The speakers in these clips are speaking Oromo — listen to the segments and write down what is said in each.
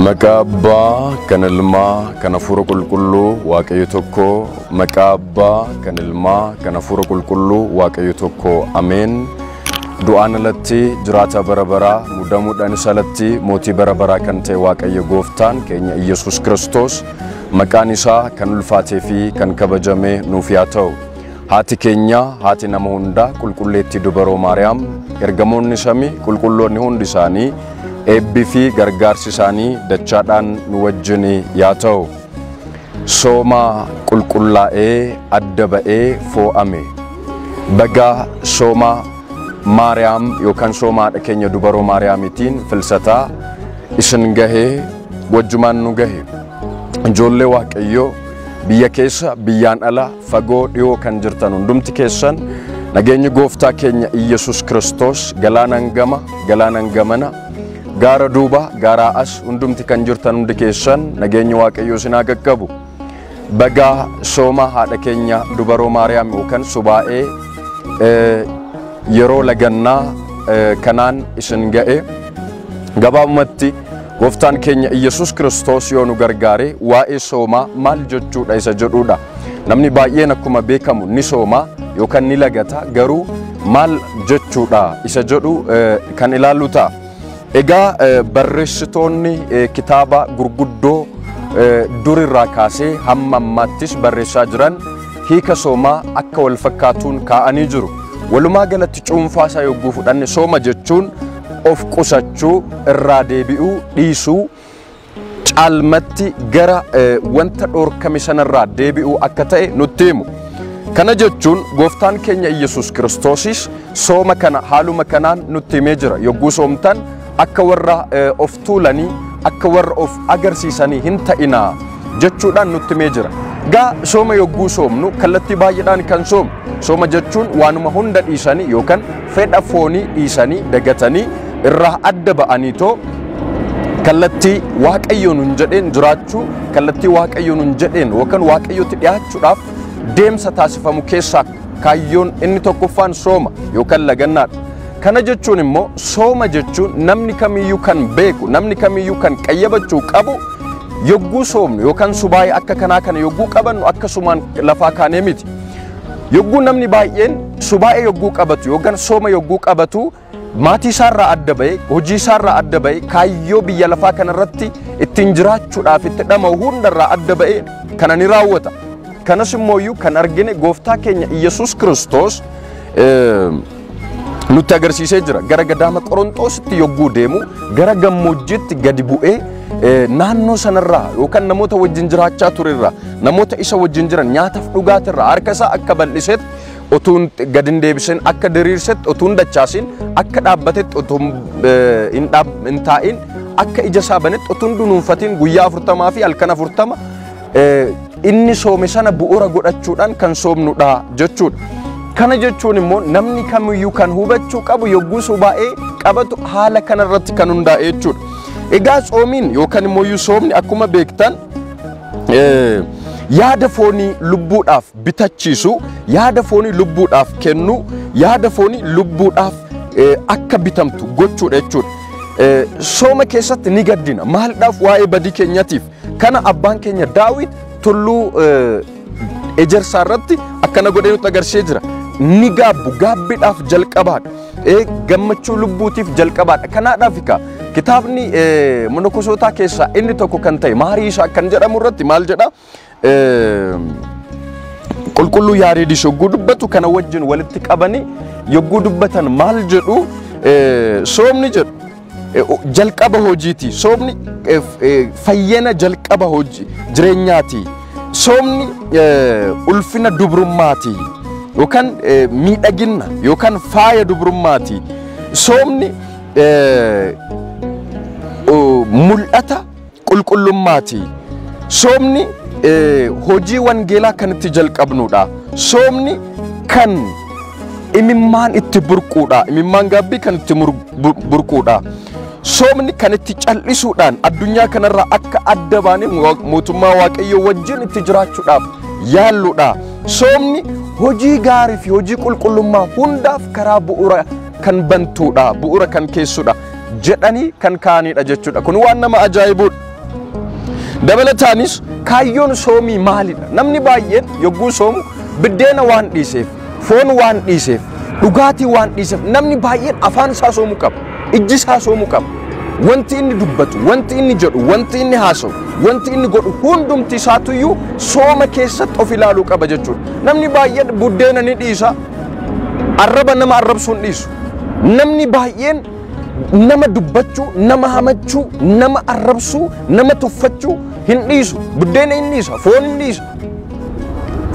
Maqaa Abbaa, kan Ilmaa, kan Hafuura Qulqulluu, Waaqayyo tokko. Maqaa Abbaa, kan Ilmaa, kan Hafuura Qulqulluu, Waaqayyo tokko. Ameen. Du'aan alatti jiraataa bara baraa, mudamuudhaanis alatti mootii bara baraa kan ta'e Waaqayyo Gooftaan keenya Iyyasuus Kiristoos maqaan isaa kan ulfaatee fi kan kabajame nuuf yaa ta'u. Haati keenya, haati nama hundaa, Qulqulleettii Dubaroo Maariyaam, ergamoonni samii, qulqulloonni hundi isaanii, eebbi fi gargaarsi isaanii dachaadhaan nu wajjin yaa ta'u. Sooma qulqullaa'ee adda ba'ee foo'ame. Baga sooma Maariyaam yookaan sooma haadha keenya Dubaroo Maariyaamitiin filsataa isin gahe wajjumaan nu gahe. Ijoollee Waaqayyoo biyya keessa biyyaan ala Fagoo dhiyoo kan jirtan hundumti keessan nageenyi gooftaa keenya Iyyasuus Kiristoos galaanaan gama, galaanaan gamana, gaara duuba, gaaraa as hundumti kan jirtan hundi keessan nageenyi Waaqayyoo isin haa qaqqabu. Bagaa sooma haadha keenya dubaroo Maariyaam yookaan subaa'ee eh, yeroo lagannaa eh, kanaan isin ga'e. Gabaabumatti gooftaan keenya Iyyasuus Kiristoos yoo nu gargaare waa'ee soomaa maal jechuudha isa jedhuudha. Namni baay'een akkuma beekamu ni sooma yookaan ni lagata garuu maal jechuudha isa jedhu kan ilaallu ta'a. Egaa barreessitoonni kitaaba gurguddoo durirraa kaasee hamma ammaattis barreessaa jiran hiika soomaa akka wal fakkaatuun kaa'anii jiru. Walumaa galatti cuunfaa isaa yogguu fudhanne sooma jechuun of qusachuu, irraa deebi'uu, dhiisuu, caalmatti gara wanta dhorkame sanarraa deebi'uu akka ta'e nutti himu. Kana jechuun gooftaan keenya Iyyasuus Kiristoosis sooma kana haaluma kanaan nutti himee jira. Yogguu soomtan akka warra of tuulanii akka warra of agarsiisanii hin ta'inaa. jechuudhaan nutti himee jira. Gaa sooma yogguu soomnu kallattii baay'eedhaan kan soomu. Sooma jechuun waanuma hunda dhiisanii yookaan fedha foonii dhiisanii dagatanii irraa adda ba'anii too kallattii waaqayyo nun jedheen jiraachuu kallattii waaqayyo nun jedheen yookaan waaqayyotti dhiyaachuudhaaf deemsa taasifamu keessaa kaayyoon inni tokkoffaan sooma yookaan lagannaadha. Kana jechuun immoo sooma jechuun namni kamiyyuu kan beeku namni kamiyyuu kan qayyabachuu qabu Yogguu soomnu yookaan subaayii akka kanaa kana yogguu qabannu akkasumaan lafaa kaanee miti. Yogguu namni baay'een subaa'ee yogguu qabatu yookaan sooma yogguu qabatu maatii isaarraa adda ba'e, hojii isaarraa adda ba'e, kaayyoo biyya lafaa kanarratti ittiin jiraachuudhaaf itti dhama'u hundarraa adda ba'e kana ni raawwata. Kanas immoo kan argine gooftaa keenya Iyyasuus Kiristoos nutti agarsiisee jira. Gara gadaama Qorontoositti yogguu deemu gara gammoojjiitti gadi bu'ee eh, naannoo sanarraa yookaan namoota wajjin jiraachaa turerraa namoota isa wajjin jiran nyaataaf dhugaatirraa harka isaa akka bal'isetti otuun gadi hin deebisin akka diriirsetti otuun dachaasin akka dhaabbatetti otuun eh, hin dhaab- hin taa'in akka ija isaa banetti otuun dunuunfatiin guyyaa afurtamaa fi halkan afurtama inni soome sana bu'uura godhachuudhaan kan soomnudha jechuudha. Kana jechuun immoo namni kamiyyuu kan hubachuu qabu yogguu subaa'ee qabatu haala kanarratti kan hundaa'e jechuudha. Egaa tsoomiin yookaan immoo soomni akkuma beektan yaada foonii lubbuudhaaf bitachiisu, yaada foonii lubbuudhaaf kennu, yaada foonii lubbuudhaaf akka bitamtu gochuudha jechuudha. Sooma keessatti ni gaddina. Maalidhaaf waa'ee badii keenyatiif Kana abbaan keenya Daawit tulluu ejersaa irratti akkana godhee nutti agarsiisee jira. Ni gaabbu gaabbiidhaaf jalqabaadha. Gammachuu lubbuutiif jalqabaadha. Kanaadhaaf egaa kitaabni monokosootaa keessaa inni tokko kan ta'e maarii isaa kan jedhamu irratti maal jedha? Qulqulluu Yaareedis yogguu dubbatu kana wajjin walitti qabanii yogguu dubbatan maal jedhu soomni jedhu. Eh, o- jalqaba hojiiti soomni eh, f- eh, fayyina jalqaba hojii jireenyaati soomni eh, ulfina dubrummaati yookaan eh, miidhagina yookaan faaya dubrummaati soomni eh, o- mul'ata qulqullummaati. Soomni hojii wangeelaa kan itti jalqabnuudha. Soomni kan imimmaan itti burquudha. Imimmaan gaabbii kan itti burquudha. Soomni kan itti cal'isuudhaan addunyaa kanarraa akka adda baanee mootummaa Waaqayyoo wajjin itti jiraachuudhaaf yaalluudha. Soomni hojii gaarii fi hojii qulqullummaa hundaaf karaa bu'uura kan bantuudha. Bu'uura kan keessuudha. jedhanii kan kaa'anidha jechuudha. Kun waan nama ajaa'ibuudha. Dabalataanis kaayyoon soomii maalidha? Namni baay'een yogguu soomu biddeena waan dhiiseef, foon waan dhiiseef, dhugaatii waan dhiiseef namni baay'een afaan isaa soomuu qaba. Ijji isaa soomuu qaba. Wanti inni dubbatu, wanti inni jedhu, wanti inni haasa'u, wanti inni godhu hundumti isaatuyyuu sooma keessatti of ilaaluu qaba jechuudha. Namni baay'een buddeena ni dhiisa, arraba nama arrabsuun dhiisu. Namni baay'een nama dubbachuu, nama hamachuu, nama arrabsuu, nama tuffachuu hin dhiisu. Buddeena hin dhiisa, foon hin dhiisa.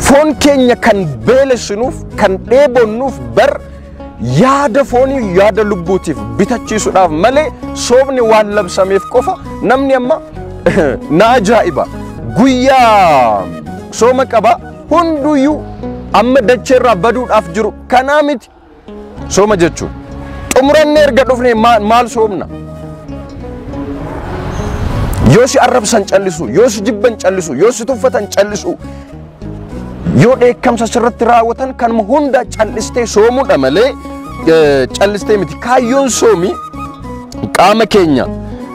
Foon keenya kan beelessinuuf, kan dheebonnuuf bar yaada foonii yaada lubbuutiif bitachiisuudhaaf malee soofni waan labsameef qofa namni amma na ajaa'iba. Guyyaa sooma qaba hunduyyuu amma dacheerraa baduudhaaf jiru kanaa miti. Sooma jechuun xumurannee erga dhufnee maal maal soomna? Yoo si arrabsan callisu, yoo si jibban callisu, yoo si tuffatan callisu, yoo dheekkamsa sirratti raawwatan kanuma hunda callistee soomuudha malee eh, callistee miti. Kaayyoon soomii qaama keenya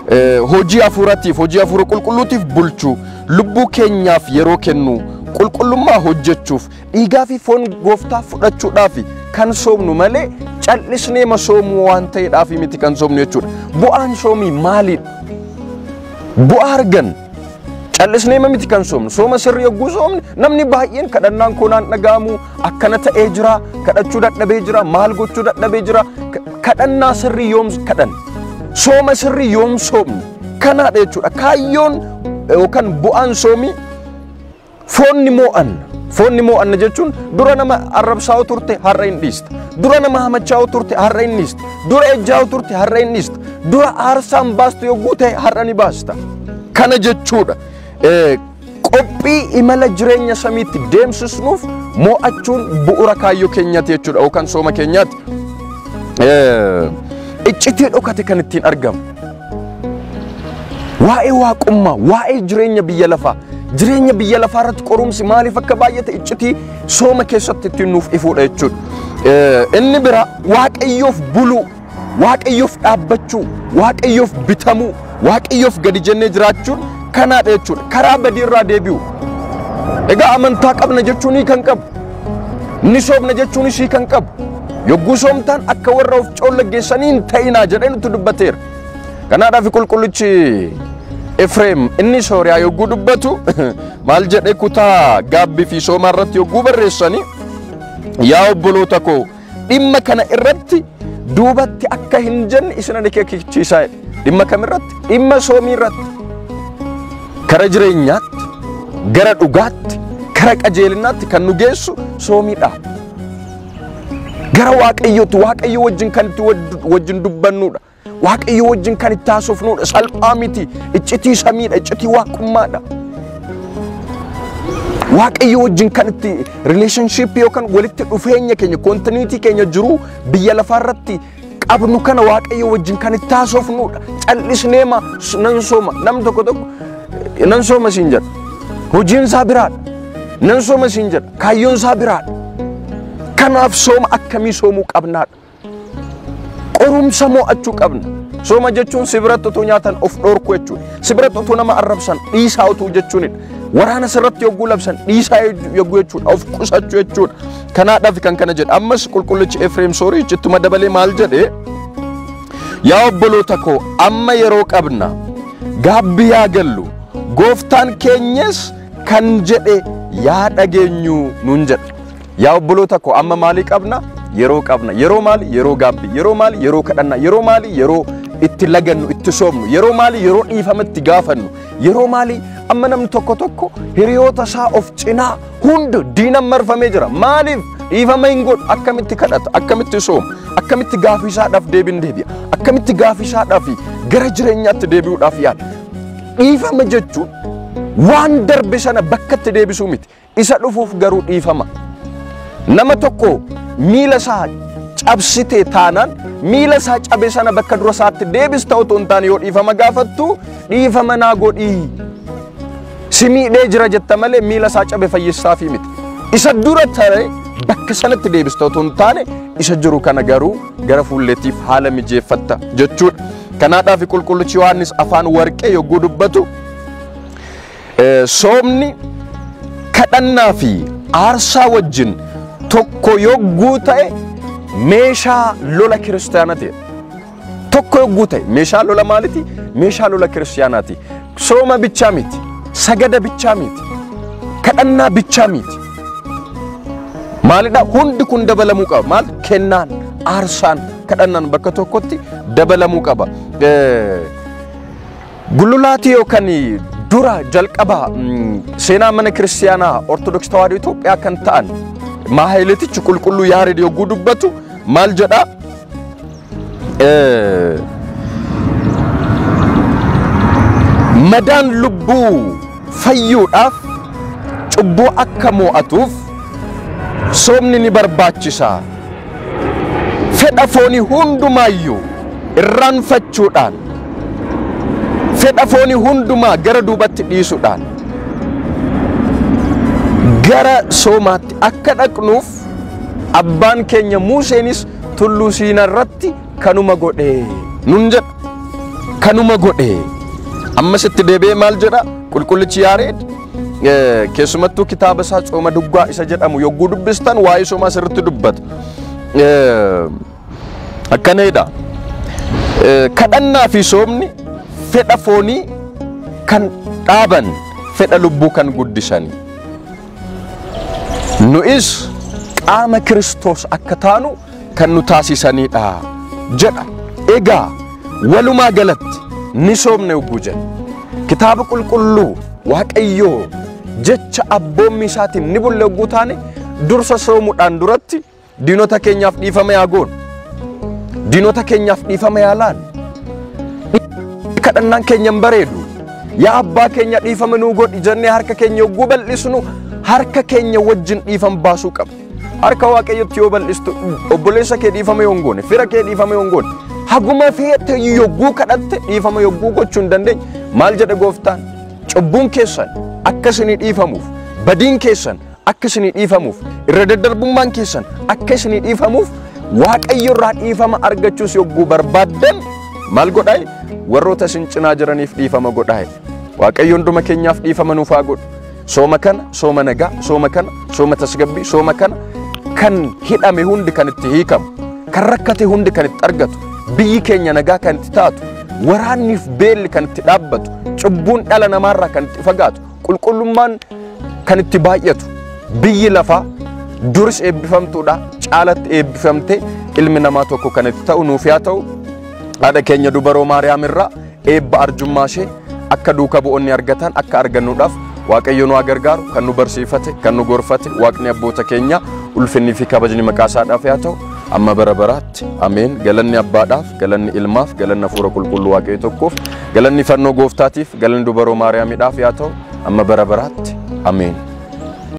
eh, hojii hafuuratiif hojii hafuura qulqulluutiif bulchuu lubbuu keenyaaf yeroo kennuu qulqullummaa hojjechuuf Dhiigaa fi foon gooftaa fudhachuudhaaf kan soomnu malee cal'isnee ma soomuu waan ta'eedhaaf miti kan soomnu jechuudha. Bu'aan soomii maalidha? Bu'aa argan cal'isnee ma miti kan soomnu sooma sirrii yogguu soomne namni baay'een kadhannaan koo naan dhaga'amu akkana ta'ee jira kadhachuu dadhabee jira maal gochuu dadhabee jira kadhannaa sirrii yoom kadhan sooma sirrii yoom soomne kanaadha jechuudha kaayyoon yookaan bu'aan soomii Foon ni moo'anna. Foon ni moo'anna jechuun dura nama arrabsaa'u turte har'a hin dhiista. Dura nama hamachaa'u turte har'a hin dhiista. Dura ejjaa'u turte har'a hin dhiista. Dura aarsaan baastu yogguu ta'e har'a ni baasta. Kana jechuudha. Eh, Qophii imala jireenya samiitti deemsisnuuf moo'achuun bu'uura kaayyoo keenyaati jechuudha yookaan sooma keenyaati. Eh, Iccitii dhokate kan ittiin argamu. Waa'ee waaqummaa, waa'ee jireenya biyya lafaa, jireenya biyya lafaa irratti qorumsi maaliif akka baay'ate iccitii sooma keessatti ittiin nuuf ifuudha jechuudha. Eh, Inni bira waaqayyoof buluu, waaqayyoof dhaabbachuu, waaqayyoof bitamuu, waaqayyoof gadi jennee jiraachuun kanaadha jechuudha. Karaa badii irraa deebi'u. Egaa amantaa qabna jechuun kan qabu, ni soomna jechuunis kan qabu, Yogguu soomtaan akka warra of coollaggeessanii hin ta'inaa jedhee nutti dubbateera. Kanaadhaaf qulqullichi Efreem inni Sooriyaa yogguu dubbatu maal jedhee kutaa gaabbii fi soomaa irratti yogguu barreessanii yaa obboloota koo dhimma kana irratti duubatti akka hin jenne isin ani keekichiisaa dhimma kam irratti dhimma soomii irratti kara jireenyaatti gara dhugaatti kara qajeelinaatti kan nu geessu soomiidha. Gara Waaqayyootti Waaqayyo wajjin kan itti wajjin dubbannudha. Waaqayyo wajjin kan itti haasofnudha. Salphaa miti. Iccitii samiidha. Iccitii waaqummaadha. Waaqayyo wajjin kan itti relationship yookaan walitti dhufeenya keenya kontinuitii keenya jiru biyya lafaarratti qabnu kana waaqayyo wajjin kan itti haasofnudha. Callisnee ma nan sooma nam tokko tokko eh, nan sooma siin jedha. Hojiin isaa biraadha. Nan sooma siin jedha. Kaayyoon isaa biraadha. Kanaaf sooma akkamii soomuu qabnaadha. Qorumsa mo'achuu qabna. Sooma jechuun si biratti utuu nyaatan of dhoorku jechuudha. Si biratti utuu nama arrabsan dhiisaa utuu jechuunidha. Waraana sirratti yogguu labsan dhiisaa yogguu jechuudha. Of qusachuu jechuudha. Kanaadhaaf kan kana jedhe ammas qulqullichi Efreem Soorii ittuma dabalee maal jedhe yaa obboloota koo amma yeroo qabna gaabbi yaa gallu gooftaan keenyas kan jedhe yaa dhageenyu nuun jedhe yaa obboloota koo amma maalii qabna yeroo qabna yeroo maali yeroo gaabbi yeroo maali yeroo kadhanna yeroo maali yeroo itti lagannu itti soomnu yeroo maali yeroo dhiifama itti gaafannu yeroo maali amma namni tokko tokko hiriyoota isaa of cinaa Hund diinan marfamee jira. Maaliif dhiifama hin godhu? Akkamitti kadhata? Akkamitti sooma? Akkamitti gaafii isaadhaaf deebiin deebi'a? Akkamitti gaafii isaadhaaf gara jireenyaatti deebi'uudhaaf yaala? Dhiifama jechuun waan darbe sana bakkatti deebisuu miti. Isa dhufuuf garuu dhiifama. Nama tokko miila isaa cabsitee taanaan miila isaa cabe sana bakka dura isaatti deebista otoo hin taane yoo dhiifama gaafattu dhiifama naa godhii Si miidhee jira jetta malee miila isaa cabe fayyissaafii miti. Isa dura tare bakka sanatti deebista otoo hin taane isa jiru kana garuu gara fuulleetiif haala mijeeffatta jechuudha. Kanaadhaaf qulqullichi Yohaannis afaan warqee yogguu dubbatu soomni kadhannaa fi aarsaa wajjin tokko yogguu ta'e meeshaa lola kiristaanaa ta'e. Tokko yogguu ta'e meeshaa lola maaliti? Meeshaa lola kiristiyaanaati. Sooma bichaa miti. Sagada bichaa miti. Kadhannaa bichaa miti. Maalidha? Hundi kun dabalamuu qaba. Maal? Kennaan, aarsaan, kadhannaan bakka tokkotti dabalamuu qaba. Eh, Gululaatii yookaan dura jalqaba mm, seenaa mana kiristiyaanaa Ortodoks Tawaahidoo Itoophiyaa kan ta'an Maahayileetichi qulqulluu Yaareed yogguu dubbatu maal jedhaa? madaan lubbuu fayyuudhaaf cubbuu akka mo'atuuf soomni ni barbaachisa. Fedha foonii hundumaayyuu irraanfachuudhaan fedha foonii hundumaa gara duubatti dhiisuudhaan gara soomaatti akka dhaqnuuf abbaan keenya Museenis tulluu siina irratti kanuma godhe nun jedha kanuma godhe ammas itti deebi'ee maal jedha qulqullichi yaareed eh, keessumattuu kitaaba isaa cooma duggaa isa jedhamu yogguu dubbistan waa'ee soomaa sirritti dubbata Eh, akkana jedha Eh, kadhannaa fi soomni fedha foonii kan dhaaban fedha lubbuu kan guddisani Nu'is qaama Kiristoos akka taanu kan nu taasisaniidha jedha. Egaa walumaa galatti ni soomne hogguu jenna. Kitaaba qulqulluu Waaqayyoo jecha abboommii isaatiin ni bulle hogguu taane dursa soomuudhaan duratti Diinota keenyaaf dhiifama yaa goonu. Diinota keenyaaf dhiifama yaa laannu. Kadhannaan keenya hin bareedu. Yaa abbaa keenya dhiifama nuu godhi jennee harka keenya yogguu bal'isnu harka keenya wajjin dhiifama baasuu qabna. Harka waaqayyotti yoo bal'istu obboleessa kee dhiifama yoo hin goone, fira kee dhiifama yoo hin goone, haguma feete yogguu kadhatte dhiifama yogguu gochuu hin dandeenye maal jedhe gooftaan? Cubbuun keessan akka isinii dhiifamuuf, badiin keessan akka isinii dhiifamuuf irra daddarbummaan keessan akka isinii dhiifamuuf waaqayyo irraa dhiifama argachuus yogguu barbaaddan maal godhaa warroota isin cinaa jiraniif dhiifama godhaa waaqayyo hunduma keenyaaf dhiifama nuuf haa godhu sooma kana sooma nagaa sooma kana sooma tasgabbii sooma kana kan hidhame hundi kan itti hiikamu kan rakkate hundi kan itti argatu biyyi keenya nagaa kan itti taatu waraanniif beelli kan itti dhaabbatu cubbuun dhala namaarraa kan itti fagaatu qulqullummaan kan itti baay'atu biyyi lafaa duris eebbifamtuudha caalatti eebbifamte ilmi namaa tokko kan itti ta'u nuuf yaa ta'u haadha keenya dubaroo maariyaam irraa eebba arjummaa ishee akka duuka bu'oonni argatan akka argannuudhaaf waaqayyo nu haa gargaaru kan nu barsiifate kan nu gorfate waaqni abboota keenya ulfinnii fi kabajni maqaa isaadhaaf yaa ta'u amma bara baraatti Ameen. Galanni Abbaadhaaf, galanni Ilmaaf, galanni Hafuura Qulqulluu Waaqayyo tokkoof, galanni fannoo Gooftaatiif, galanni dubaroo Maariyaamidhaaf yaa ta'u, amma bara baraatti. Ameen.